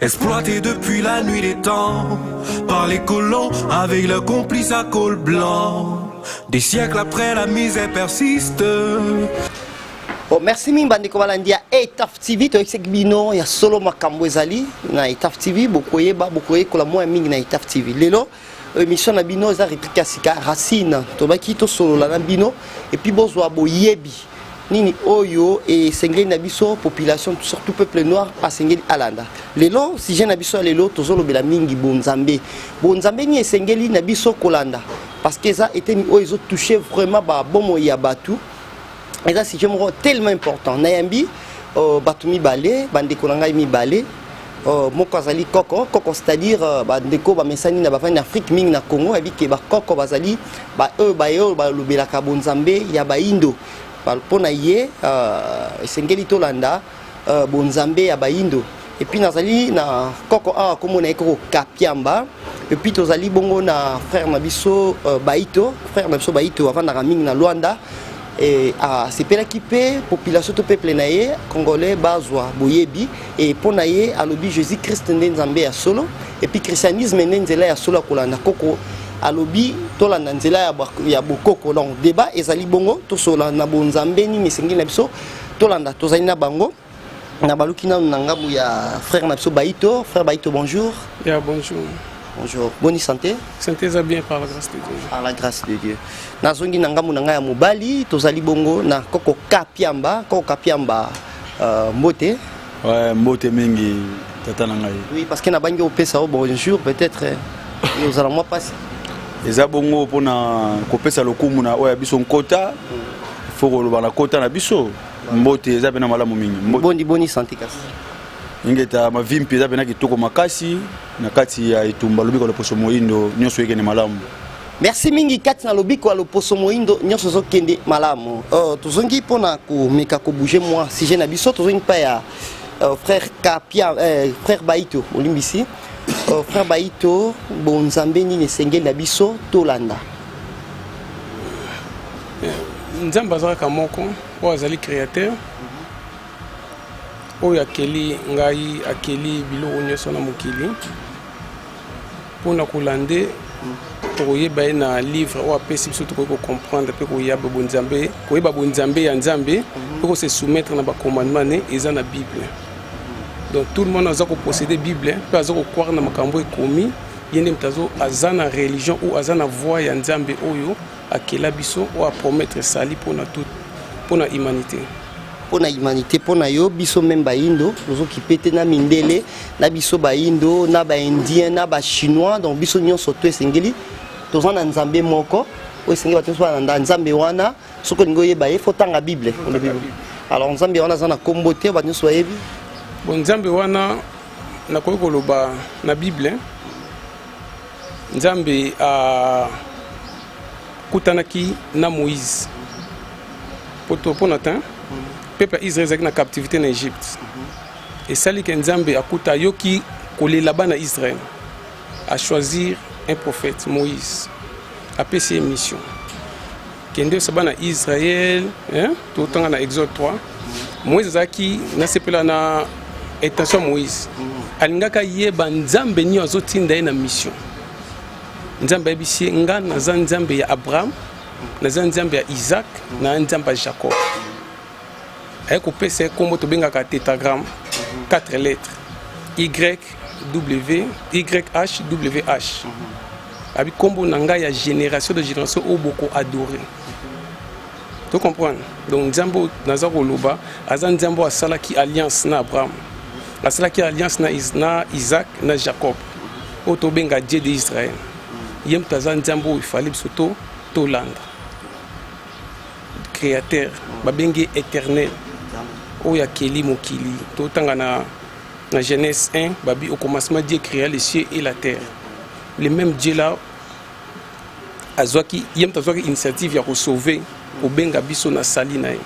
Exploité depuis la nuit des temps par les colons avec leurs complices à col blanc. Des siècles après, la misère persiste. Bon, merci mingi bandeko balandi ya etaf tv toyekisaki bino ya solo makambo ezali na etaf tv bokoyeba bokoyekola mwa ya mingi na etaf tv lelo emission na bino eza replique ya sika racine tobaki tosolola na bino epuis bozwa boyebi nini oyo esengeli na biso population surtout peuple noir asengeli alanda lelo sujet na biso ya lelo tozolobela mingi bonzambe bonzambe nini esengeli na biso kolanda parce que eza eteni oyo ezotouche vraiment babomoi ya bato eza sujet moko tellement important nayambi uh, bato mibale bandeko na ngai mibale uh, moko azali koko koko c'est-à-dire uh, bandeko bamesani na bavandi na afrique mingi na congo ayebi ke bakoko bazali baoyo baye oyo balobelaka bonzambe ya baindo mpo na ye uh, esengeli tolanda uh, bonzambe ya bayindo epuis nazali na koko awa kombo na ye koko kapiamba epuis tozali bongo na frère na biso uh, baito frère na biso baito avandaka mingi na luanda e, asepelaki mpe population to peuple na ye congolais bazwa boyebi e mpo na ye alobi jésus christ nde nzambe ya solo epuis christianisme nde nzela ya solo ya kolanda koko alobi tolanda nzela ya bokoko donc débat ezali bongo tosola na bonzambe nini esengeli na biso tolanda tozali na bango na baluki nanu na ngambo ya frère na biso baito frère baito bonjour ya yeah, bonjour bonjour boni santé santé eza bien par la grâce de dieu par la grâce de dieu nazongi na ngambo na ngai ya mobali tozali bongo na koko kapiamba koko kapiamba uh, mbote Ouais, mbote mingi tata na ngai. Oui, parce que na bangi opesa au bonjour peut-être et aux alamoi passe. Eza bongo pona kopesa lokumu na oya biso nkota. Faut koloba na kota na biso. Mbote eza pena malamu mingi. Mbote. Boni boni santé kasi. Ingeta mavimpi eza pena kitoko makasi na kati ya etumba lobiko loposo moindo nyonso ekende malamu. merci mingi kati na lobiko ya loposo moindo nyonso ozokende malamu oh, tozongi mpona komeka kobouge mwa sujet na biso tozongi mpa ya uh, frère kapia eh, frère baito olimbisi uh, oh, frère baito bonzambe nini esengeli na biso tolanda nzambe aza kaka moko oyo azali créateur oyo akeli ngai akeli biloko nyonso na mokili Mpo na kolande tokoyeba ye na livre oyo apesi biso tokoki kocomprendre mpe koyaba bonzambe koyeba bonzambe ya nzambe mhm. mpe kose soumettre na bacommandement ne eza na bible donc tout le monde aza kopossede bible mpe aza kokware na makambo ekomi ye nde moto aza na religion ou aza na voix ya nzambe oyo Akela biso oyo a promettre sali pona tout pona humanité pona humanité pona yo biso meme bayindo tozokipe te na mindele na biso bayindo na baindien na bachinois donc biso nyonso to esengeli toza na nzambe moko oyo esengeli bato nyonso balanda nzambe wana soki olingi oyeba ye fotanga bible alors nzambe wana aza na nkombo te bato nyonso bayebi bon nzambe wana nakoki koloba na bible Nzambe akutanaki na Moïse poto mpo na tin peuple ya Israël ezalaki na captivité na Egypte esali ke Nzambe akuta ayoki kolela bana Israël a choisir un prophète Moïse apesi ye mission kende osaba na israel totanga na exode 3 moïse azalaki nasepela na intention ya moïse alingaka yeba nzambe nini azotinda ye na mission nzambe ayebisi ye nga naza nzambe ya abraham naza nzambe ya isaac na nzambe ya jacob aye kopesa ye nkombo tobengaka tetagramme 4 lettres y w yh wh abi nkombo na ngai ya génération de génération oyo boko adore to comprendre donc nzambe oyo naza koloba aza nzambe oyo asalaki alliance na abraham asalaki alliance na, Is na isaac na jacob oyo tobenga dieu de israel ye moto aza nzambe oyo efali biso to tolanda Createur babengi eternel oyo akeli mokili totanga na na Genèse 1 babi au commencement Dieu créa les cieux et la terre le même Dieu là azwaki ye moto azwaki initiative ya kosauve kobenga biso na sali na ye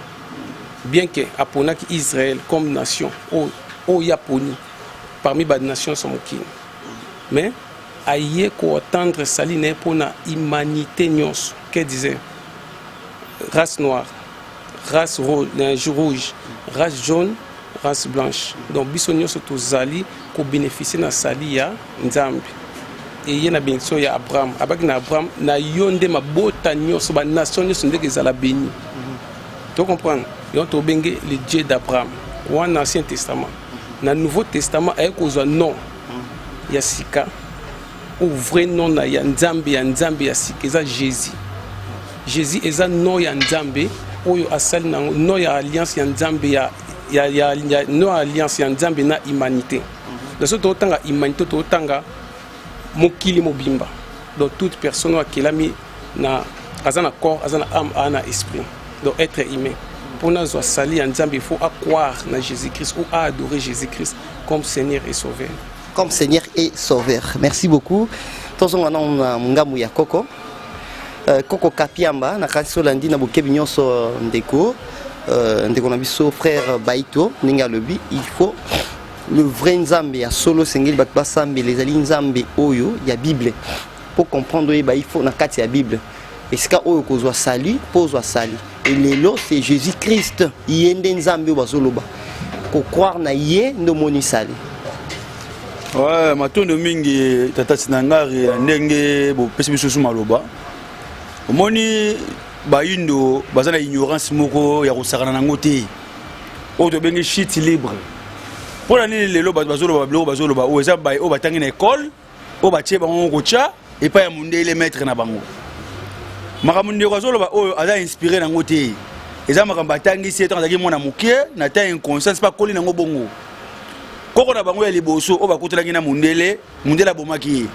bien que aponaki Israël comme nation oyo oh, oh, ye aponi parmi banation so mokili mais aye koatendre sali na ye mpo na humanité nyonso Que disait race noire, race rouge, euh, rouge, race jaune, race blanche. Donc biso nyonso tozali ko bénéficier na sali ya Nzambe. eye na benediction ya abraham abaki na abraham na yo nde mabota nyonso banation nyonso ndenge ezala beni to comprendre yango tobenge le dieu d'abraham wana ancien testament na nouveau testament aye kozwa nom ya sika O oh, vrai nom na ya Nzambe ya Nzambe ya sika eza Jésus. Jésus eza nom ya Nzambe oyo asali nango nom ya alliance ya Nzambe ya ya ya, ya nom ya alliance ya Nzambe na humanité. Na so totanga humanité totanga mokili mobimba. Donc toute personne akelami na aza na corps, aza na âme, aza na esprit. Donc être humain. Pour nous sali ya Nzambe, il faut croire na Jésus-Christ ou adorer Jésus-Christ comme Seigneur et Sauveur. comme Seigneur et Sauveur. Merci beaucoup. tozonga nano na ngambo ya koko euh, koko kapiamba nakanisi olandi na bokebi nyonso euh, ndeko euh, ndeko na biso frère baito ndenge alobi il faut le vrai nzambe ya solo esengeli bato basambela ezali nzambe oyo ya bible mpo comprendre oyeba il faut na kati ya bible esika oyo kozwa sali mpo ozwa sali elelo c'est jésus christ ye nde nzambe oyo bazoloba kocroire na ye nde omoni sali ouais, matondo mingi tata sinangari ya ndenge bopesi bisusu maloba omoni bayindo baza na ignorance moko ya kosakana nango te oyo tobengi shit libre mpo na nini lelo bato bazoloba biloko bazoloba oyo eza baye oyo batangi na ekole oyo batie bango kotya epai ya mondele maître na bango makambo ndeko azoloba oyo aza inspiré nango te eza makambo atangisi etango azalaki mwana moke na ta inconscience mpe akoli nango bongo koko na bango ya liboso oyo bakutelaki na mondele mondele abomaki ye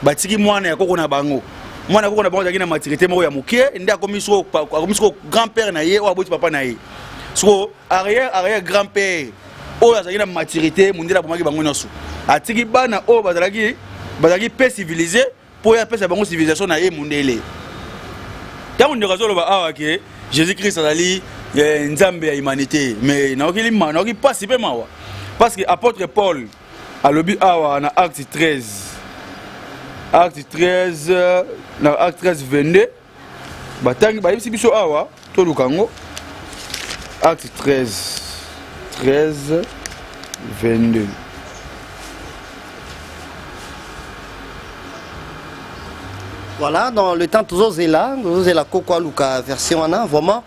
batiki mwana ya koko na bango mwana ya koko na bango azalaki na matirite moko ya moke nde akomi soko grand père na ye oyo aboti papa na ye soko arrière arrière grand père oyo azalaki na maturité mundele abomaki bango nyonso atiki bana oyo bazalaki bazalaki pe civilise mpo ye apesa bango civilisation na ye mundele ntango ndeko azoloba awa ke jésus christ azali eh, nzambe ya humanité mais nayoki nayoki mpasi mpe mawa parce que apôtre paul alobi awa na acte 13 acte 13 na acte 13 22 batangi bayebisi biso awa toluka yango acte 13 13 22 Voilà, dans le temps, tous là, tous la coco, Luca, version, vraiment.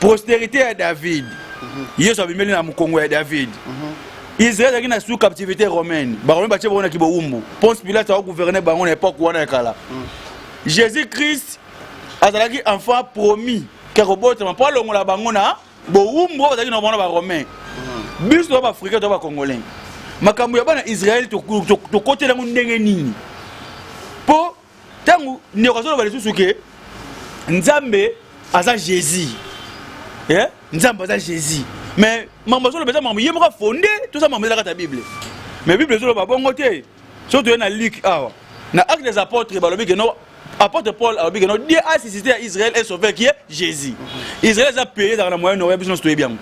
posterite ya david yesu abimeli na mokongo ya david israel azalaki na sous captivité romaine baromain batye bango na kibowumbu ponce pilate akogouverne bango na epoke wana ya kala jésus christ azalaki enfant promis ke akobotama mpo alongola bango na bowumbu oyo bazalaki na bango na baromain biso to baafricain to bacongolais makambo ya bana israel tokotela yango ndenge nini mpo ntango ndeko azoloba lisusu ke nzambe aza jésus eh? nzambe aza jésus mais mambo azoloba eza mambo ye moko afonde toza mambo ezalaka ta bible mais bible ezoloba bongo te soki toye na luke awa na acte des apôtres balobi ke no apôtre paul alobi ke no dieu a suscité ya israël et sauveur qui est jésus israël eza pays ezalaka na moyen orient biso nyonso toyebi yango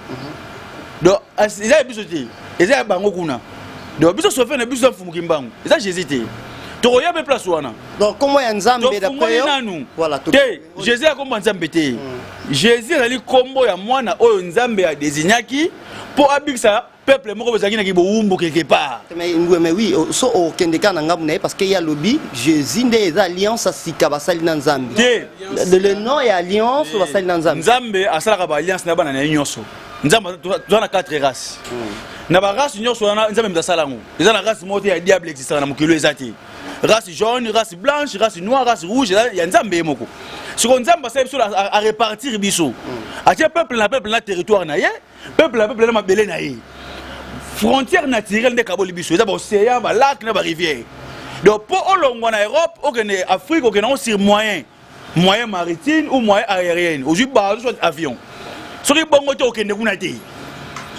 donc eza ya biso te eza ya bango kuna donc biso sauveur na biso ya mfumuki mbangu eza jésus te tokoya mpe place wana nkombo ya nzambe tofungoli nanu te jésus ya nkombo ya nzambe te mm. jésus ezali nkombo ya mwana oyo nzambe adesignaki mpo abikisa peuple moko bozalaki na kibowumbu quelque part mais oui oh, so okende oh, kaka na ngambo na ye parce que ye alobi jésus nde eza alliance asika basali na nzambe te le nom ya alliance eh. basali na nzambe nzambe asalaka baalliance na bana na ye nyonso nzambe toza na 4 race hmm. na barace nyonso wana nzambe moto asala yango eza na race moko te ya diable existaka na mokili eza te race jaune race blanche race noire race rouge ya nzambe ye moko siko nzambe asali biso arepartir biso hmm. atie peuple na peuple na territoire na ye peuple na peuple na mabele na ye frontière naturelle nde ekaboli biso eza baocéan balake na barivière donc mpo olongwa na europe okende afrique okende yango sur moyen moyen maritime ou moyen aérienne ozwi bato soit avion soki bongo te okende kuna te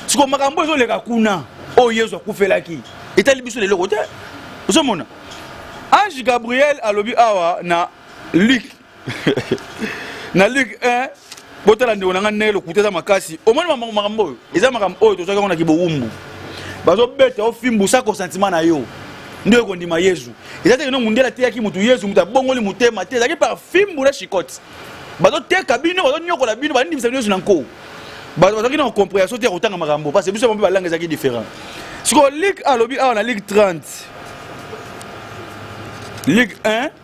siko makambo ezoleka kuna oyo oh, yesu akufelaki etali biso leloko te ozomona ange gabriel alobi awa na luke na luke 1 botala ndeko na ngai ndenge lokuta eza makasi omoni makambo oyo eza makambo oyo tozwaki yango na kibowumbu bazobeta ofimbusa konsantima na yo nde oyo kondima yezu eza te kino mundele ateyaki motu yezu motu abongoli motema te ezalaki par fimbu na shikote bazoteka bino bazonyokola bino bandimisa bino yezu na nko bato bazalaki na comprehension te ya kotanga makambo parce biso mpe balanga ezalaki différent sikoyo ligue alobi awa na ligue 30 ligue 1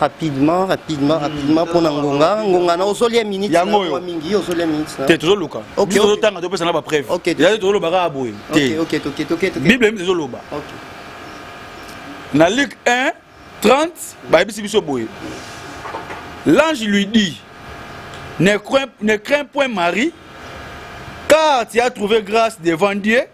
rapidement rapidement rapidement mpona ngonga ngonga na ozolia minute Yango na oyo. mwa mingi ozolia minute na- te tozoluka Ok, biso ok. tozotanga topesana bapreuve Ok, te. ezali tozoloba kaka boye Ok, te ok, toke, toke, toke. bible mpe ezoloba Ok. na luk 1 30 bayebisi biso boye l'ange lui dit ne crains, ne crains point marie car tu as trouvé grâce devant dieu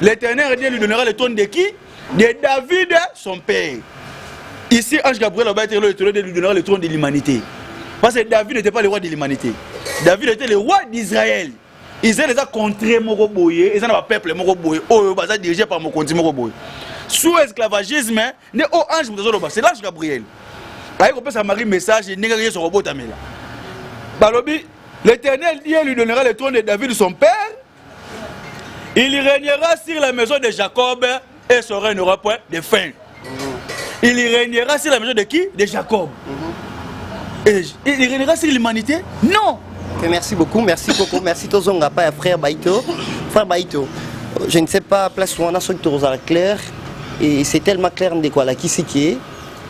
L'Éternel Dieu lui donnera le trône de qui De David, son père. Ici, Ange Gabriel a été le trône de lui donnera le trône de l'humanité. Parce que David n'était pas le roi de l'humanité. David était le roi d'Israël. Israël eza contre moko boye, eza na ba peuple moko boye, oyo baza dirigé par mokonzi moko boye. Sous esclavagisme, ne o ange moto azoloba, c'est l'ange Gabriel. Aye kopesa Marie message ndenge Yesu akobotamela. Balobi, l'Éternel Dieu lui donnera le trône de David son père Il régnera sur la maison de Jacob et son règne n'aura point de fin. Il régnera sur la maison de qui De Jacob. Et il régnera sur l'humanité Non. Et merci beaucoup, merci beaucoup, merci Tozonga, pas frère Baito. Frère Baito, je ne sais pas, place où on a ce tour à clair, et c'est tellement clair de quoi la qui c'est qui est.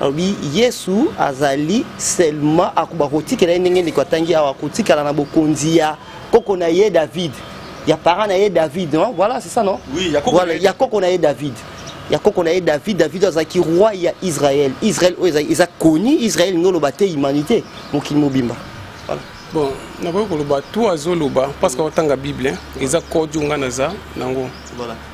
alobi yesu azali selma akoba kotikela ye ndenge ndeko atangi awa kotikala na bokonzi ya koko na ye david ya parent na ye david non voilà c'est ça non oui, ya koko voilà, ya koko na ye david ya koko na ye david david azalaki roi ya israel israel oyo eza koni israel nde oloba te humanité mokili mobimba voilà. bon nakoki koloba to azoloba parce que aotanga bible eza kodio ngai naza nango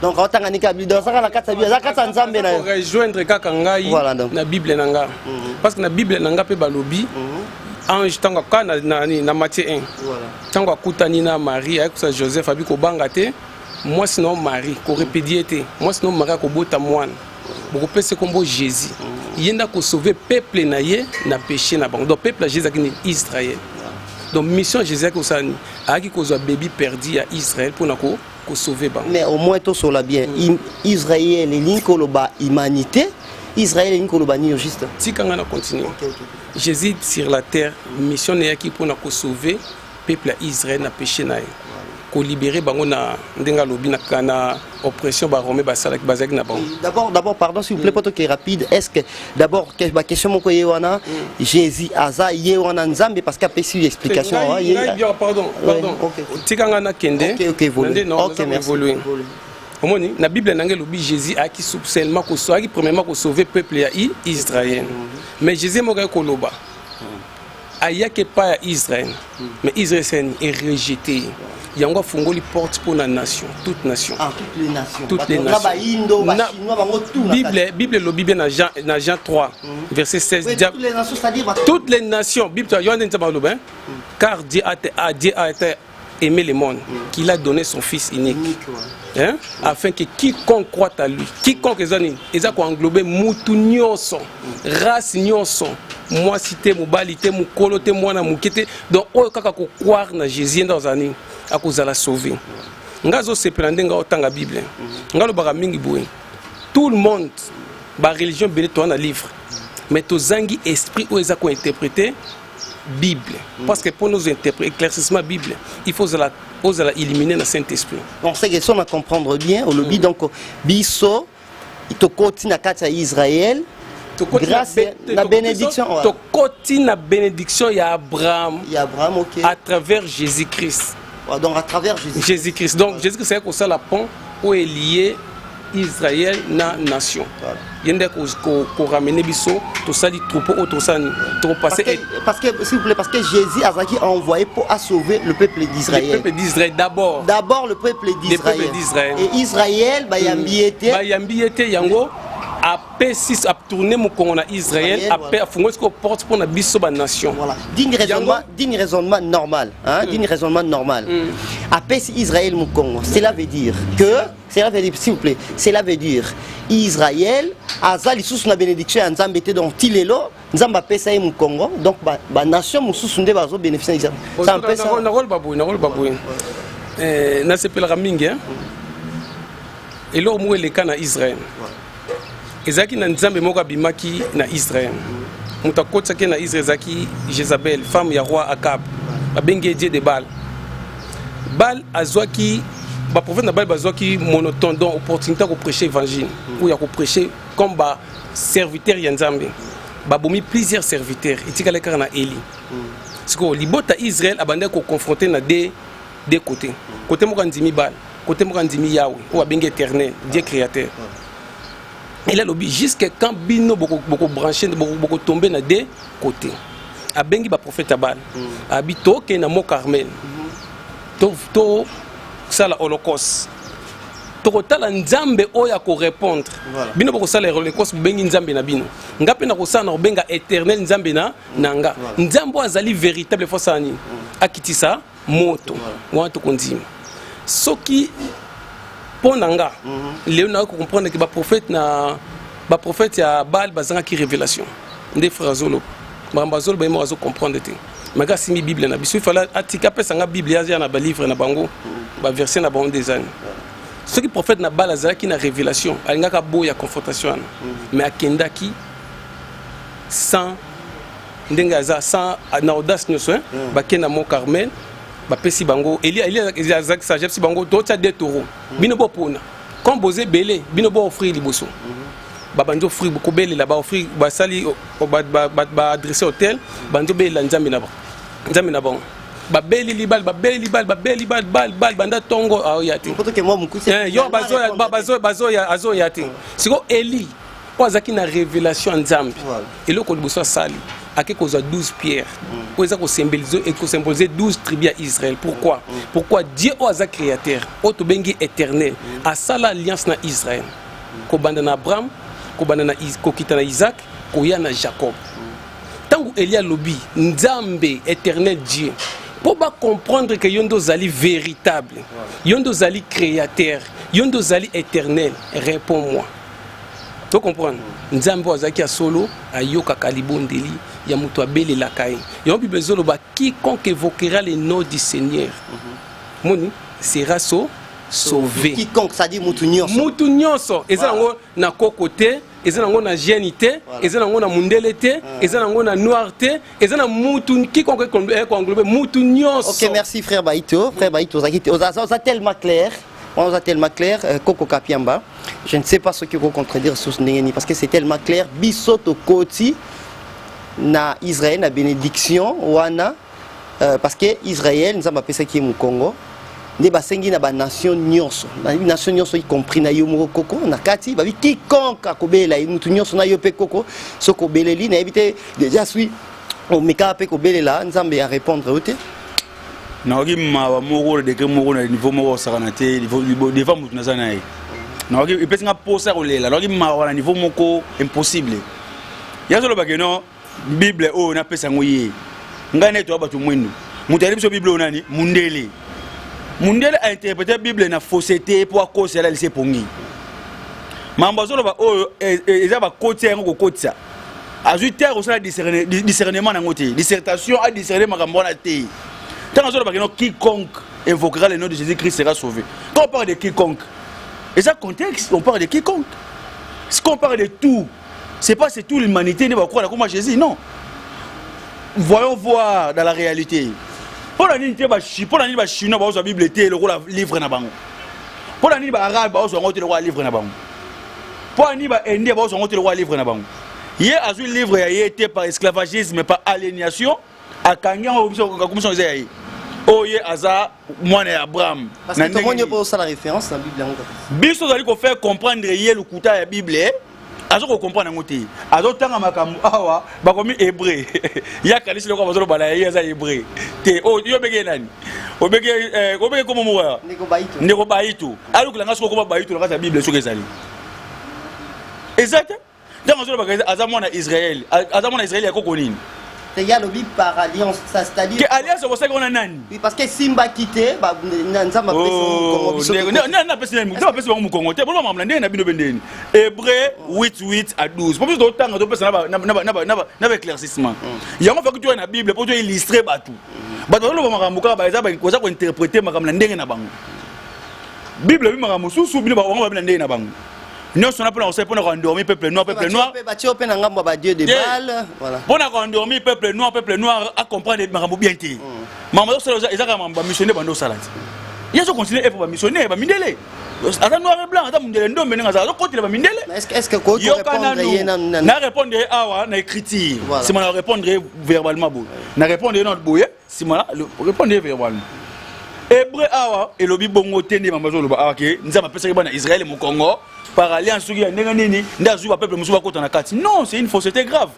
donc aotanga niki ya bible azaka na kati ya bible aza kati ya nzambe na yo rejoindre kaka ngai na bible na ngai mhm. parce que na bible na ngai mpe balobi mhm. ange ntango kaka na, na, na, na matie 1 ntango akutani na marie ayekosana joseph abi kobanga te mwasi na yo marie korepedie te mwasi na yo marie akobota mwana bokopesa nkombo jésus mm. ye nde akosauve peuple na ye na péché na bango donc peuple ya jésus akini israel donc mission jésus ayaki kosala nini ayaki kozwa bebi perdi ya israel mpona ko kosauve bango mais au moins tosola bien mm. israel elingi koloba humanité israel elingi koloba nini juste tika ngai na continue okay, okay. Jésus sur la terre mission na yaki pona ko sauver peuple ya Israël na péché na ye ko libérer bango na ndenge alobi na kana oppression ba romain basalaki bazalaki na bango d'abord d'abord pardon s'il vous plaît mm. poto qui rapide est-ce que d'abord que ba question moko ye wana mm. Jésus aza ye wana Nzambe parce qu'a pesi explication hein, ye pardon pardon tika nga na kende OK OK, okay, merci. omoni na bible na ngai elobi jésus ayaki seulement ayaki premièrement kosauve peuple ya israel mais jésus moko ayaki koloba ayaki epai ya israel mais israel seni erejete ye yango afungoli porte mpo na nation toute nation ah, toutes les nationsbible bible elobi bien na jean, na jean 3 mm. verset 16 oui, toutes, les nations, toutes les nations bible wana nzambe aloba mm. car dieu a, a, dieu a été aimer le monde, mm. qu'il a donné son fils unique. unique ouais. hein? mm. Afin que quiconque croit à lui, quiconque eza nini, eza ko englober mutu nyonso, mm. race nyonso, mwasi te, mobali te, mukolo te, mwana muke te. Donc oyo kaka ko croire na Jésus nda ozala nini, akozala sauver. Mm. Nga zo sepela ndenge otanga Bible. Mm. Nga lobaka mingi boye. Tout le monde ba religion bele to na livre. Mais tozangi esprit oyo eza ko interpréter bible mm. parce que mpo nozo éclaircissement bible il faut ozala ozala illumine na saint esprit on sait que son à comprendre bien olobi mm. donc biso tokoti na kati ya israël grâce na bénédiction tokoti na bénédiction ya abraham ya abraham ok à travers jésus christ donc à travers jésus christ donc jésus christ ayaki kosala pont oyo elie israel na nation ye nde koramene biso tosali troupeau oyo tosala nini tokopase parce que s'il vous plaît parce que jésus azalaki envoyé mpo asauver le peuple d'israël le peuple d'israël d'abord d'abord le peuple d'israël et israël bayambi ye te bayambi ye te yango P6 a tourné mokongo na Israël après afungoli sikoyo porte mpo na biso banation voilà. digne raisonnement, digne raisonnement normal hein? mm. digne raisonnement normal mm. apesi Israël mokongo cela veut dire que cela veut dire s'il vous plaît cela veut dire Israël aza lisusu na bénédiction ya Nzambe te donc ti lelo Nzambe apesa ye mokongo donc banation ba mosusu nde bazo bénéficie na Israël nakoloba boye nakoloba boye nasepelaka mingi eloko moko eleka na Israël voilà. ezalaki na nzambe moko abimaki na israel moto akotisaki na israel ezalaki jezabel femme ya roi akab babengi ye dieu de bal bal azwaki baprofete na bal bazwaki monotone donc opportunité ya koprêche évangile ou ya koprêche comme baserviteur ya nzambe babomi plusieurs serviteurs etikali kaka na eli sikoyo libota israel abandaki koconfronte na de de côté côté moko andimi bana côté moko andimi yawe oyo abengi éternel dieu créateur il alobi jusque quand bino bokobranche bokotombe na de côté abengi baprofete ya bana mm. abi tokende na mot carmel mm-hmm. tosala holocauste tokotala nzambe oyo akorepondre bino bokosala reconnaissance bobengi nzambe na bino nga mpe nakosala na kobenga éternel nzambe na na nga nzambe oyo azali véritable fo asala nini akitisa moto wana tokondima soki mpo na nga mhm. lelo nayoki kocomprendre ke baprofete na baprofete ya bale bazangaki révélation nde frère azoloba makambo azoloba ye moko azocomprendre te maka asimbi bible na biso ifala atika apesa nga bible aza na balivre na bango mhm. baverse na bango nde ezani soki profete na bale azalaki na révélation alingaka boya confrontation wana mais mhm. akendaki sans ndenge aza sans na audace nioso hein mm. ba kenda mon Carmel ba pesi bango Elia Elia Isaac ça j'ai bango to tia des taureaux mm. bino bo pona comme bozé belé bino bo offrir liboso mm-hmm. ba banjo offrir ko belé là ba offrir ba sali ba ba ba adresser hôtel banjo belé la nzambe na ba nzambe na bango babeli libal babeli libal babeli bal bal bal banda tongo aoya te eh, yo bazoya bazoya azoya te siko eli oyo azalaki na révélation ya nzambe eloko liboso asali ake kozwa 12 pierre mm. oyo eza kosymbolize 12 tribu ya israel pourquoi mm. Mm. pourquoi dieu oyo aza créateur oyo tobengi éternel asala alliance na israel kobanda na abraham kobanda na kokita na isaac koya na jacob ntango eli alobi nzambe éternel dieu mpo bacomprendre ke yo nde ozali véritable yo nde ozali créateur yo nde ozali éternel réponds moi to comprendre nzambe oyo azalaki ya solo ayokaka libondeli ya moto abelelaka ye yango bible ezoloba quiconque évoquera le nom du seigneur mhm. moni sera so sauve quiconque ça dit mutu nyonso mutu nyonso eza nango na koko te eza nango na gene te eza nango na mundele te ah. eza nango na noir te eza na mutu quiconque ekoenglobe eh, mutu nyonso ok merci frère baito frère baito ozaki oza tellement clair On a tellement clair, euh, Coco Kapiamba. Je ne sais pas ce que vous contredire sur ce Nengeni parce que c'est tellement clair. Bissoto Koti na Israël, na bénédiction, Wana, euh, parce que Israël, nous avons appelé ça qui est Mukongo. nde basengi na banation nyonso nation nyonso y compris na yo moko koko na kati babi quiconque akobelela ye motu nyonso na yo mpe koko soki obeleli nayebi te déjà sui omekaka mpe kobelela nzambe ya répondre yo te nakoki mawa moko degre moko na niveau moko kosakana te deva motu naza na ye nakoki epesi nga mposa ya kolela nakoki mawa na niveau moko impossible ye azolobake no bible oyo napesa yango ye ngai na etoya bato mwindu moto ayebi biso bible oyo nani mundele mundele ainterprete bible na fausseté mpo akosi alalisi epongi mambo azoloba oyo e, e, eza bakotisa yango kokotisa azwi terre osala discernement na yango te dissertation a discerne makambo wana te ntango azoloba kino quiconque invoquera le nom de jésus christ sera sauvé quand on parle de quiconque eza contexte on parle de quiconque si on parle de tout c'est pas c'est tout l'humanité nde bakola koma jésus non voyons voir dans la réalité mpo na nini te mpo na nini bachinois baozwa bible te lokola livre na bango mpo na nini baarabe baozwa yango te lokola livre na bango Mpo ani ba Indien bazwa yango te lokola livre na bango. Ye azwi livre ya ye te par esclavagisme, par aliénation, akangi yango akomisa yango eza ya ye. Oyo ye aza mwana ya Abraham. Parce que tomoni mpo osala référence na Bible yango. Biso tozali ko faire comprendre ye lokuta ya Bible, azo ko comprendre yango te. Azo tanga makambo awa bakomi hebreu ya kanisi loko bazolo bala ye aza hebreu te oh, yo obenge ye nani obenge eh, obenge komo moko ya ndeko bayitu ayokela nga soki okoma bayitu na kati ya bible soki ezali eza te ntango azolobaka aza mwana israel aza mwana israel ya koko nini il y a lobi par alliance ça c'est-à-dire que alliance au sein on a nani oui parce que simba quitté ba nzamba pesa mukongo biso na na pesa na pesa mukongo te bon maman ndenge na bino bendeni Hébreu 8 8 à 12 mpo biso totanga topesa na baéclaircissement yango faki toya na bible mpo toillustre bato bato bazoloba makambo kaka baza kointerprete makambo na ndenge na bango bible ebi makambo mosusu bino bango babi na ndenge na bango nyonso na mpona kosala mpona koendormi peuple noir peuple noir batio mpe na ngambo ya badieu de bale mpona koendormi peuple noir peuple noir acomprendre makambo bien te mm. makambo azosala ezaka makambo bamissionnaire bando osala te ye azocontinue epo bamissionnaire bamindele aza noir et blanc aza mundele ndombe ndenge aza azokotela bamindele na répondre ye awa na écriture nsima na répondre ye verbalement boye na répondre ye na boye nsima na répondre ye verbalement hébreu awa elobi bongo te nde mambo azoloba awa ke nzambe apesaki bana israele mokongo par alliance soki ya ndenge nini nde azwi bapeuple mosusu bakota na kati non c'est une fausseté grave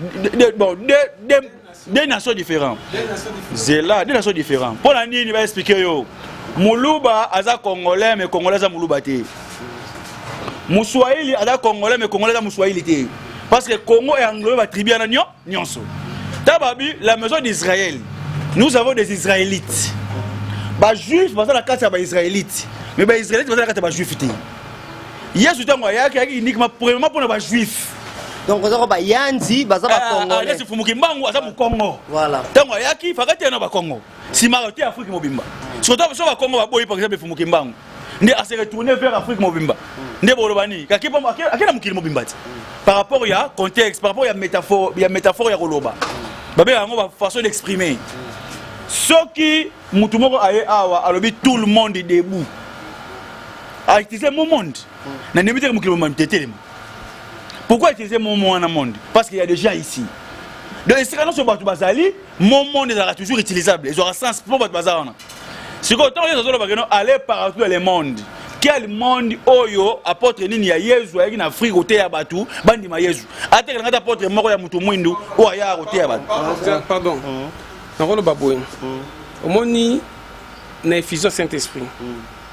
de, bon, de, de, de nations différents zela de nations différents mpo na nini baexplike yo muluba aza congolais mais congolais aza muluba te muswahili aza congolais mais congolais aza muswahili te parce que congo e englobe batribu yana nio nyonso ta babi la maison d'israël nous avons des israélites bajuif baza na kati ya baisraélite mais baisraélite baza na kati ya bajuif te yesu ntango ayaki ayaki uniquement premièrement mpo na bajuif donc oza ko bayanzi baza bakongolesi eh, fumuki mbangu aza mokongo ntango ayaki fakati ya na bakongo nsima ote afrike mobimba soto biso bakongo baboyi par exemple fumuki mbangu nde ase retourne vers afrique mobimba nde boloba nini ake na mokili mobimba ti par rapport ya contexte par rapport ya métaphore ya, métaphore ya koloba babengaka yango bafaçon d'exprimer soki motu moko aye awa alobi tout le monde debout aitise ah, mo monde na ndembi teke mokili momami te telema pourquoi utiliser mon mot wana monde parce qu'il y a des gens ici donc esika nyonso bato bazali mon monde ezalaka toujours utilisable ezwaka sens mpo bato baza wana sikoyo ntango yesu azoloba keno aller partout dans le monde quel monde oyo apôtre nini ya yezu ayaki na afrike koteya bato bandima yezu atekelanga ata apôtre moko ya moto mwindu oyo ayaka koteya bato pardon mm. nakoloba boye mm. omoni na effusion saint esprit mm.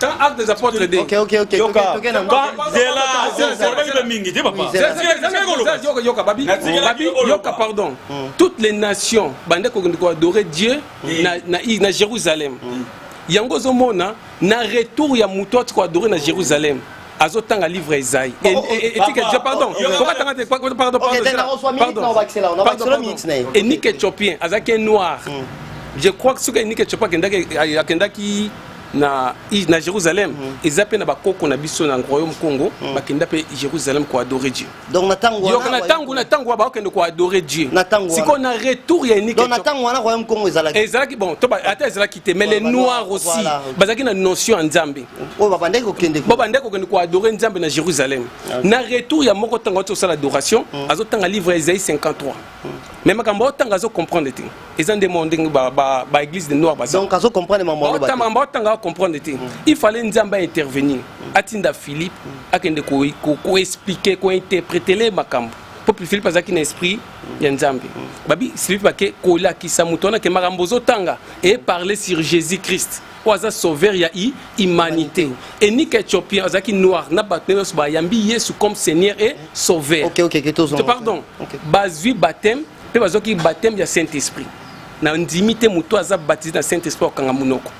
Quand acte des apôtres dit. Ok, ok, ok. Yoka. Zela. Zela mingi, dis papa. Yoka, yoka, babi. Babi, yoka, pardon. Hmm. Toutes les nations, bande ko ko adorer Dieu hmm. na na na Jérusalem. Hmm. Yango zo mona na retour ya mutu ko adorer na Jérusalem. azotanga livre ya ezai etike jo pardon kokatanga te pardon pardon pardon enike chopien azalaki noir je crois que soki enike chopien akendaki na, na Jérusalem mm -hmm. eza pe na bakoko na biso na royaume Congo mm -hmm. bakenda pe Jérusalem ko adorer Dieu donc na tango wana na tango na tango ba kende ko adorer Dieu na tango siko na retour ya unique donc na tango wana royaume Congo ezalaki ezalaki bon to ba ata ezalaki te mais les noirs aussi voilà. bazaki na notion ya Nzambe oyo ba bandaki ko kende ko ba ko kende ko adorer Nzambe na Jérusalem okay. na retour ya moko tango to sala adoration mm -hmm. azo tanga livre Isaïe 53 mais makambo otanga azo comprendre te eza nde mwa ndenge baeglise de noir bazodonc azo comprendre makambo otanga acomprendre te mm. il fallait nzambe aintervenir mm. atinda philippe mm. akende koexplike kointerpretele makambo mpo philippe azalaki na esprit ya nzambe babi philippe ake kolakisa moto wana ke makambo ozotanga eparle sur jésus christ oyo aza sauveur ya i humanité enika ethiopien azalaki noir na bato na nyonso bayambi yesu comme seigneur et sauveur okay, okay, okay, pardon okay. bazwi baptême mpe bazwaki baptême ya saint esprit na ndimi te moto aza baptise na saint esprit akanga monoko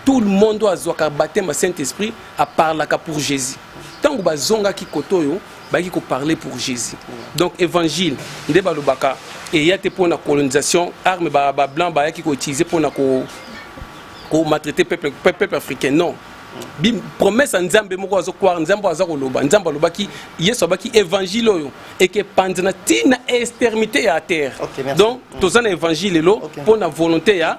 tout le monde oyo azwaka baptême ya saint esprit aparlaka pour jésus ntango bazongaki kote oyo baki ko parler pour Jésus donc évangile nde balobaka eya te mpo na colonisation arme ba, ba blanc bayaki ko utiliser mpo na ko ko maltraiter peuple peuple africain non Bim, promesse ya nzambe moko azo kwara nzambe aza koloba nzambe alobaki yesu abaki évangile oyo ekepanzana ti na extermité ya terre okay, donc mm. toza na évangile lelo okay. mpo na volonté ya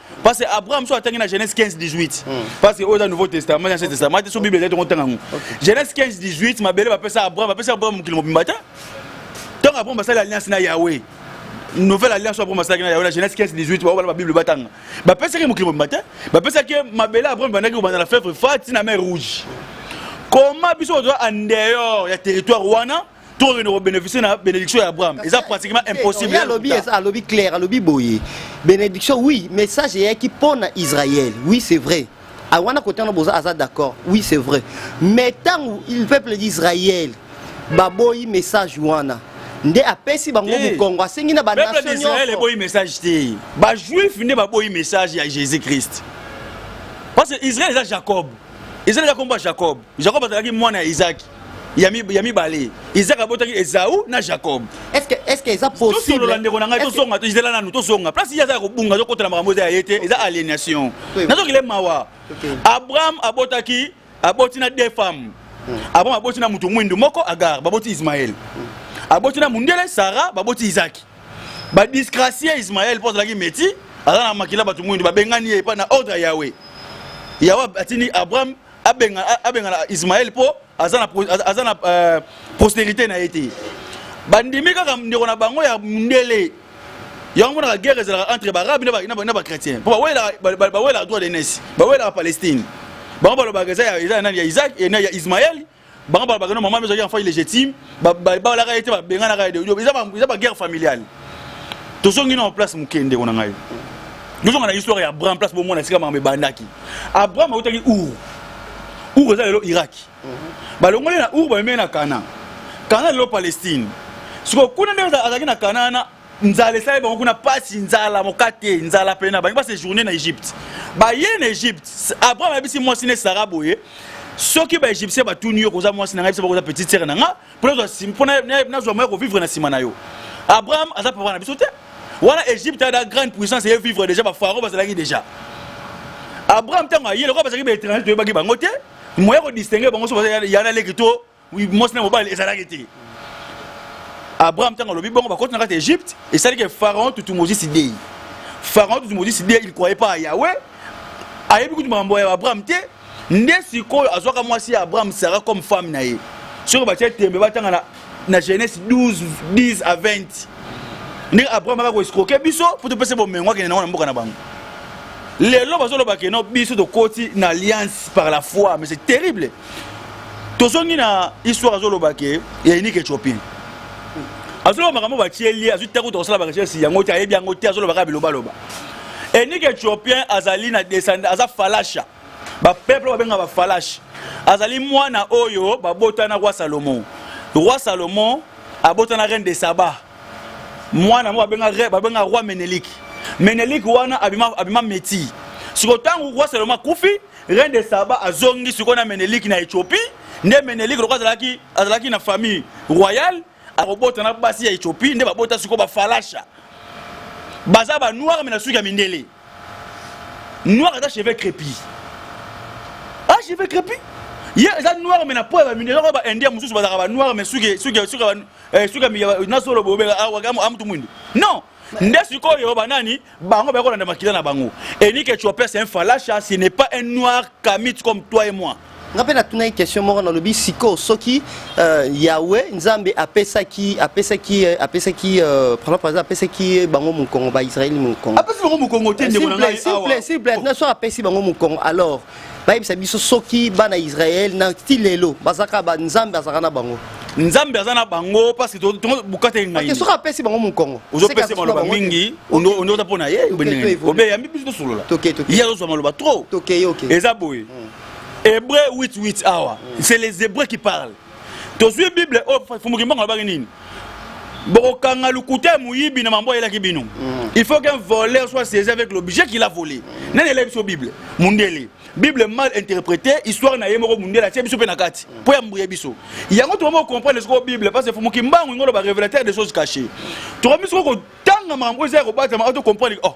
parce que abraham so atangi na genèse 15 18 hmm. parce que oyo eza nouveau testament na ancien testament te so bible ezali tongo ntanga yango genèse 15 18 mabele bapesa abraham bapesa abraham mokili mobimba te ntango abraham basali alliance na yahweh nouvelle alliance oyo abraham asalaki na yahweh na genèse 15 18 baobala babible batanga bapesaki mokili mobimba te bapesaki mabele abraham bandaki kobanda na fevre fa ti na mer rouge koma biso tozwa en dehors ya territoire wana to okende kobeneficie na bénédiction ya abraham eza pratiquement impossible alobi alobi claire alobi boye bénédiction oui message eyaki mpo na israël oui c'est vrai ah, wana kote wana boza aza d'accord oui c'est vrai mais ntango le peuple d'israël baboyi message wana nde apesi bango eh. mokongo asengi na banation nyonso eboyi message te bajuif nde baboyi message ya jésus christ parce que israel eza jacob israel eza kombo ya jacob jacob azalaki mwana ya isaki ya mibale isaac abotaki ezau na jacob tosolola ndeko na ngai tozonga tozela nanu tozonga place ye aza ya kobunga azokotela makambo eza ya ye te eza aliénation nazokile mawa abraham abotaki aboti na deux femmes hmm. abraham aboti na moto mwindu moko agar baboti ismael hmm. aboti na mundele sara baboti isaki badisgracie ismael mpo azalaki meti aza na makila bato mwindu babengani ye epai na ordre ya yawe yawe atindi abraham abengana abengana Ismaël po aza na aza na euh, postérité na ye te bandimi kaka ndeko na bango ya mundele yango monaka guerre ezalaka entre baarabe na bachrétien mpo bawelaka droit de nese bawelaka palestine bango balobaka eza ya nani ya isaac ya ismael bango balobaka no mama ezalaki enfant illégitime babalaka ye te babenganaka ye eza baguerre familiale tozongi na place moke ndeko na ngai tozonga na histoire ya abraham place bomona esika makambo ebandaki abraham autaki ur ur eza lelo iraki mhm. balongoli na ur bamemei na kana kana lelo palestine sikoyo kuna nde azalaki na kana wana nzala esali bango kuna mpasi nzala mokate nzala mpena bangi basejourne na egypte baye na egypte abraham ayebisi mwasi ne sara boye soki baegyptien batuni yo koza mwasi na ngai biso bakoza petite sere na nga mpo nazwa moya kovivre na nsima na yo abraham aza papa na biso te wana egypte ada grande puissance eye vivre déjà bafaro bazalaki déjà abraham ntango aye lokola bazalaki baétranger toyebaki bango te moya kodistingue bango so bazayana leki to mwasi na mobali ezalaki te abraham ntango alobi bongo bakoti na kati ya egypte esalaki ke pharaon tutu mozisi dei pharaon tutu mozisi dei il croyait pas à yahweh ayebi kutu makambo ya abraham te nde sikoyo azwaka mwasi ya abraham sara comme femme na ye soki batya tembe batanga na, na genèse 12 10 à 20 ndenge abraham aka koescroke biso mpo topesa bomengo akende nango na mboka na bango lelo bazoloba keno biso tokoti na alliance par la foi mais c'est terrible tozongi na histoire azoloba ke ya unique ethiopien azoloba makambo batieli ye azwi te kuta kosala barecherche yango te ayebi yango te azoloba kaka bilobaloba unique ethiopien azali na descend aza falasha bapeuple babenga bafalashe azali mwana oyo babotana roi salomon roi salomon abotana reine de saba mwana moko babenga roi menelike menelike wana abima, abima meti siko ntango roi salomon akufi Reine de Saba azongi sikoyo na Menelik na Ethiopie, nde Menelik lokola azalaki azalaki na famille royale akobota na basi ya Ethiopie, nde babota sikoyo ba falasha baza ba noir mais na suki ya mindele noir aza cheveux crépus ah cheveux crépus ye eza noir mais na po ya ba mindele ba indien mosusu bazalaka ba noir mais suki suki suki eh, suki na solo bobeka awa ah, amutu mwindu non nde sikoyo banani bango bako landa makila na bango enike chopin c'est un falasha ce n'est pas un noir kamit comme toi et moi nga mpe natunaki question moko nalobi sikoyo soki euh, yawe nzambe apesaki apesaki euh, apesaki euh, par exemple apesaki bango mokongo baisraeli mokongo apesi bango mokongo te ndeko na ngai awa simple simple na so apesi bango mokongo alors bayebisa biso soki bana israel na ti lelo bazalaka banzambe azalaka na bango nzambe aza na bango parce que bukata engai soki apesi bango mokongo ozopesa maloba mingi oza mpo na ye obeyambi biso tosolola ye azozwa maloba trop eza boye hébreu 88 awa c'est les hébreux qui parlent tozwi bible oyo oh, fumukimbango alobaki nini bokokanga lokuta ya moyibi na mambo ayelaki bino mm. il faut qu'un voleur soit saisi avec l'objet qu'il a volé nani elai biso bible mundele bible mal interprété histoire na ye moko mundele atie biso mpe na kati mpo ya mbuye biso yango tokomi kocomprendre sikoyo bible parce que fumuki mbangu ingolo barévélateur des choses cachées tokomi sikoyo kotanga makambo oyo eza ya kobatama oto comprendre oh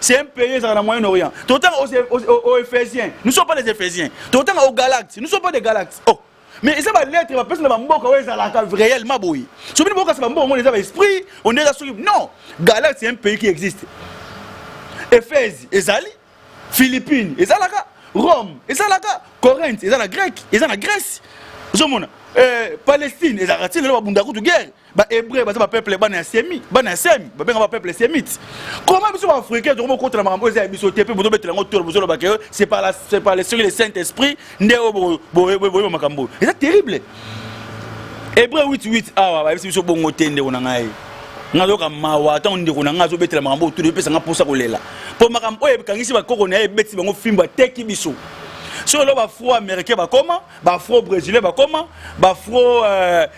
C'est un pays dans le Moyen-Orient. Tout autant aux, aux, aux, aux Éphésiens. Nous ne sommes pas des Éphésiens. Tout autant aux Galates. Nous ne sommes pas des Galates. Oh. mais eza balettre bapesi na bamboka oyo ezalaka réellement boye soki bini bokasa bamboka omona eza baesprit one eza soki non galate c'est un pays qui existe ephèse ezali philippine ezalaka rome ezalaka corinthe eza na grec eza na grèce ozomona euh, palestine ezalaka ntina lelo babunda kutu guerre ba hébreu baza ba peuple bana ya semi bana ya semi babenga ba peuple semite comment biso ba africain tokoma kota na makambo eza ya biso te mpe bozobetela yango tolo bozoloba ke c'est par la c'est par l'esprit le saint esprit nde oyo boyeba makambo eza terrible hébreu 88 awa bayebisi biso bongo te ndeko na ngai nazoyoka mawa ntango ndeko na ngai azobetela makambo oyo tolo epesa ngai mposa kolela mpo makambo oyo ekangisi bakoko na ye ebetisi bango fimbo ateki biso solo bafro américain bakoma bafro brésilien bakoma bafro euh,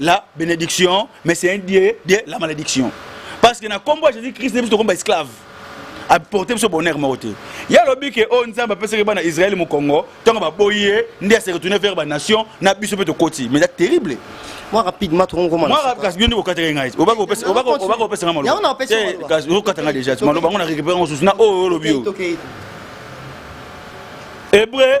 la benediction mais c'est un dieu de la malédiction parce que na kombo ya jésus christ biso tokomba esclave aporte biso bonheur moko te ye alobi ke oyo oh, nzambe apesaki bana israele mokongo ntango baboyi ye nde ase retourne vers banation na biso mpe tokoti mais eza terrible moi rapidement tokoma moi kasi bino nde kokataka ngai oba kopesa nga malobaokasi okata nga déjà maloba yango na récupère mosusu na oyo olobi yo hébreu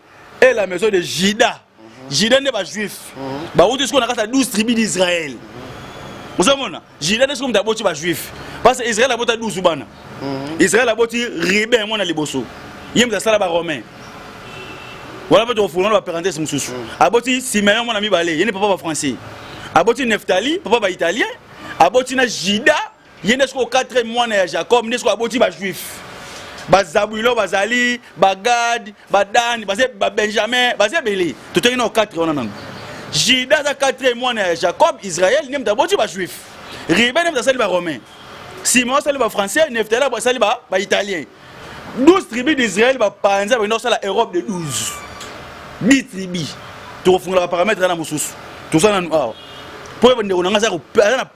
et la maison de Juda. Juda nde ba juif. Ba wuti siko na kata 12 tribus d'Israël. Ozomona? Juda nde siko mutu aboti ba juif. Parce que Israël abota 12 bana. Israël aboti Ruben mwana liboso. Ye mutu asala ba romain. Wala pe tokofungula na ba parenthèse mosusu. Aboti Simeon mwana mibale, ye nde papa ba français. Aboti Neftali, papa ba italien. Aboti na Juda, ye nde sikoyo quatrième mwana ya jacob nde sikoyo aboti bajuif bazabwilo bazali bagade badani babenjamin baza ebele totoki nao 4 wana nango juda aza quatrième mwana ya jacob israel nde moto aboti bajuif ribe nde moto asali baromain simon asali bafrançais neftali asali baitalien 12 tribu d'israel bapanza bakenda kosala europe de 12 10 tribu tokofungola baparametre wana mosusu toza nanu awa mpo ndeko na ngai aza na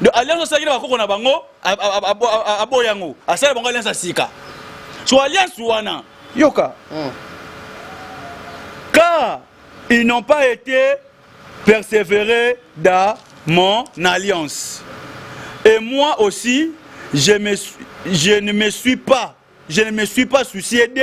Donc alliance osalaki na bakoko na bango aboya yango asala bango alliance ya sika so alliance wana yoka hmm. car ils n'ont pas été persévérés dans mon alliance et moi aussi je, me, je ne me suis pas je ne me suis pas soucié d'eux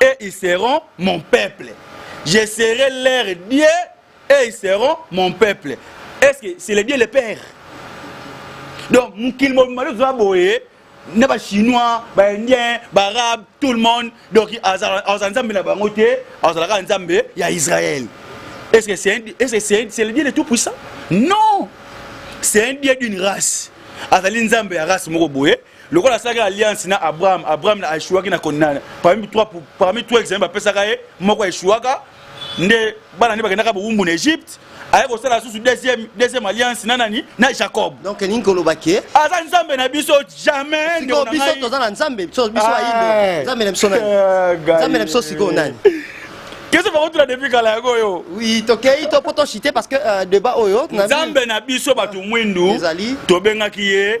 et ils seront mon peuple. Je serai leur Dieu et ils seront mon peuple. Est-ce que c'est le Dieu le Père Donc, mokili mobimba toza boye na ba chinois, ba indiens, ba arabes, tout le monde. Donc azala nzambe na bango te, azalaka nzambe ya Israël. Est-ce que c'est est -ce c'est est le Dieu de tout puissant Non. C'est un Dieu d'une race. Azali nzambe ya race moko boye lokola asalaki alliance na abraham abraham aeshuaki na konana parmi trois, parmi trois examen bapesaka ye moko aeshuaka nde bana nde bakendaka bowumbu na egypte aye kosala lisusu deuxième, deuxième alliance na nani na jacob donc elingi koloba ke aza nzambe na biso jamais sikoyo biso toza na nzambe biso biso ayindo nzambe na biso nani nzambe na biso sikoyo nani kese bakotula depuis kala yango oyo oui tokei to mpo tochite parce que euh, debat oyo nzambe na biso bato mwindu tobengaki ye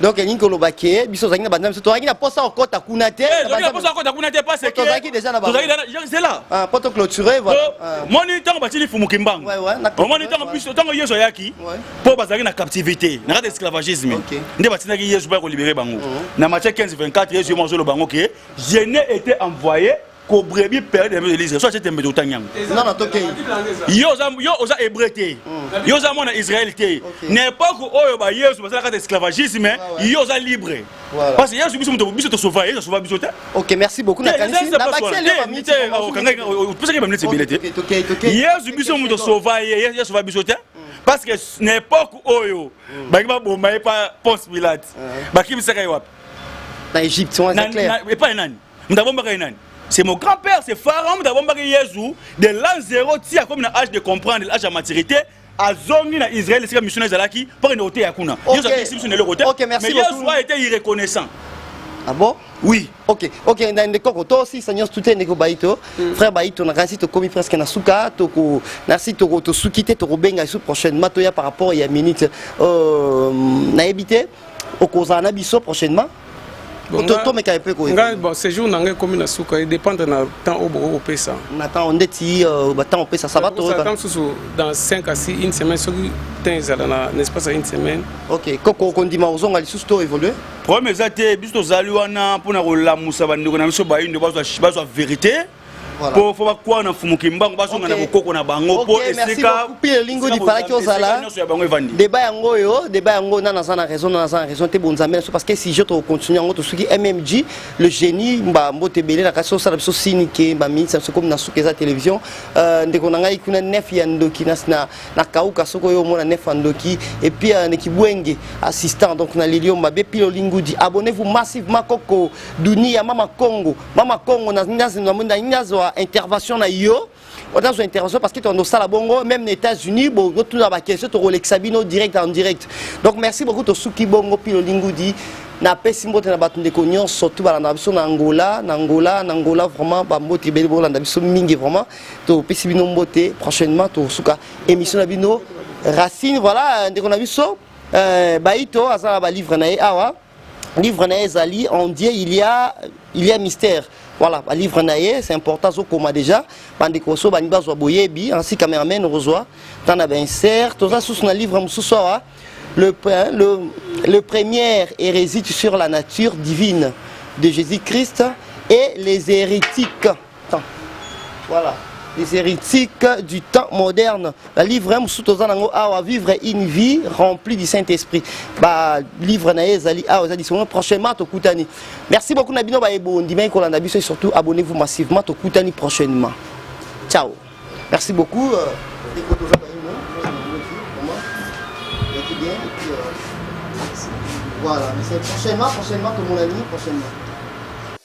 donc elingi koloba ke biso tozalaki na banzambe so tozalaki na posa okota kuna te eh, tozalaki na posa okota kuna te parce que tozalaki déjà na tozalaki na zela ah poto clôturer voilà euh, ah. moni tango batili fumu kimbangu moni tango biso tango yesu ayaki po bazalaki na captivité na kati esclavagisme nde batindaki yesu ba ko libérer bango oh. na Matthieu 15 24 yesu yo mozolo bango ke je n'ai été envoyé ko brebi pere de de lisre so atie tembe totangi yango nga na tokei yo oza yo oza hébreu te mm. yo oza mwana israel te na époque oyo ba yesu basalaka ta esclavagisme ah yo oza libre parce que yesu biso moto biso tosova yesu asova biso te ok merci beaucoup na kanisi na bakiseli ba minute opesaki ba minute ebele te yesu biso moto sova ye yesu asova biso te parce que na époque oyo mm. bangi baboma ye pa ponce pilate ah. bakimisaka ye wapi na egypte epai nani moto abombaka ye nani c'est mon grand père c'est pharaon moto abombaki yezu de l'an zero ti akomi na age de comprendre age ya maturité azongi na israel esika mission ezalaki mpo akende koteya kuna yezu akisi biso na eloko te mais yezu a été irreconnaissant Ah bon Oui. Ok, ok, na ndeko ko to si sanyos tout ndeko baito. Mm. Frère baito na kasi to komi presque na suka to ko na si to ko to sukite to ko benga sous prochainement to ya par rapport ya minute euh na éviter okozala na biso prochainement tomeka mpe koyeba bon séjour na ngai ekomi na suka edépendre na temps oyo bokoki kopesa na temps ndeti euh, batemp opesa ça va toyota mosusu dans 5 à 6 une semaine soki temps ezala na espace ya une semaine ok koko okondima kozonga lisusu to évolue problème eza te biso tozali wana mpo na kolamusa bandeko na biso bayindo bazwa vérité po fo bakwana na mfumu kimbangu bazonga na bokoko na bango po esika elingo lipalaki ozala deba yango oyo deba yango na naza na raison na naza na raison te bonzambe na biso parce que sujet tokocontinue yango tosuki mmg le génie mba mbote ebele na kasi osala biso sini ke baminisi na biso komi na suka eza télévision euh, ndeko na ngai kuna nef ya ndoki na kauka soki oyo omona nef ya ndoki epuis euh, nekibwenge assistant donc na lilio mabe pilo lingudi abonnez vous massivement koko dunia mama congo mama kongo nazwa intervention na yo nazwa intervention parce que tokondo osala bongo même na états-unis botuna baquestion tokolekisa bino direct en direct donc merci beaucoup tosuki bongo pilo lingudi napesi mbote na bato ndeko nyonso tu balanda biso na angola na angola na angola vraiment bambote ebele bolanda biso mingi vraiment topesi bino mbote prochainement tosuka émission na bino racine voilà ndeko na biso euh, baito aza na balivre na ye awa livre na ye ezali en dieu il y a, il y a mystère voilà balivre na ye c'est important azokoma déjà bandeko so balingi bazwa boyebi ansi cameraman okozwa ntan na bainsert toza susu na livre mosusu awa le, le, le première hérésie sur la nature divine de jésus christ et les hérétiques temps voilà les héritiques du temps moderne balivre ya mosusu toza nango awa vivre une vie remplie du saint esprit balivre na ye ezali awa eza lisolo prochainement tokutani merci beaucoup na bino baye bondimaki kolanda biso et surtout abonnez vous massivement tokutani prochainement ciao merci beaucoup euh, Voilà, mais c'est prochainement, prochainement, comme on l'a dit, prochainement.